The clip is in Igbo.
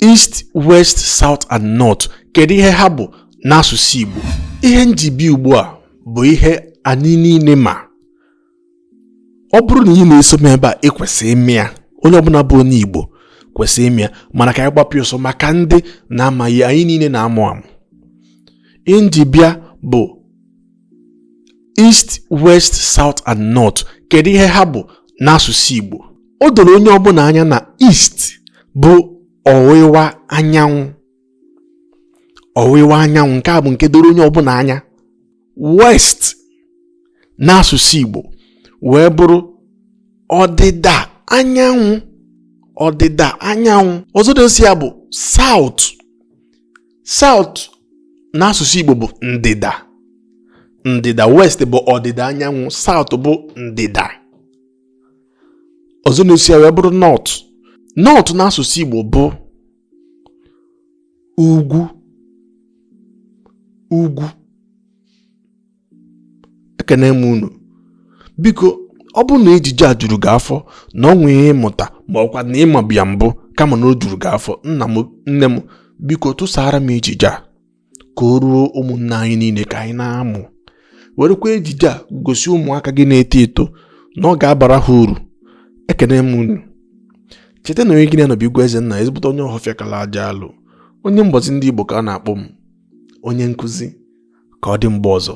east west south and north kedu ihe ha bụ n'asụsụ Igbo ihe m ji bịa ugbu a bụ ihe anyị niile ma ọ bụrụ na ị na-eso m ebe a ị kwesịrị ịma ya onye ọbụla bụ onye Igbo kwesịrị ịma ya mana ka anyị gbapịa ọsọ maka ndị na-amaghị anyị niile na-amụ amụ ihe m ji bịa bụ east west south and north kedu ihe ha bụ n'asụsụ igbo o doro onye ọbụla anya na east bụ ọwụwa anyanwụ ọwụwa anyanwụ nke a bụ nke doro onye ọbụla anya west n'asụsụ igbo wee bụrụ ọdịda anyanwụ ọdịda anyanwụ ọzọ na-eso ya bụ south South n'asụsụ Igbo bụ ndịda ndịda west bụ ọdịda anyanwụ south bụ ndịda ọzọ na-eso ya wee bụrụ north north n'asụsụ Igbo bụ ugwu ugwu ekene m unu biko ọ bụrụ na ejije a juru gị afọ na o nwee ihe ị mụta ma ọkwa na ị mabu ya mbụ kama na o juru gị afọ nna m nne m biko tụsaara m ejije a ka o ruo ụmụnna anyị niile ka anyị na-amụ werekwa ejije a gosi ụmụaka gị na-eto eto na ọ ga-abara ha uru ekene m unu cheta na onye gị na ya nọ bụ igwe eze nna ezigbote onye Ọhafịa kala aja alụ onye mgbazi ndị Igbo ka a na-akpọ m onye nkụzi ka ọ dị mgbe ọzọ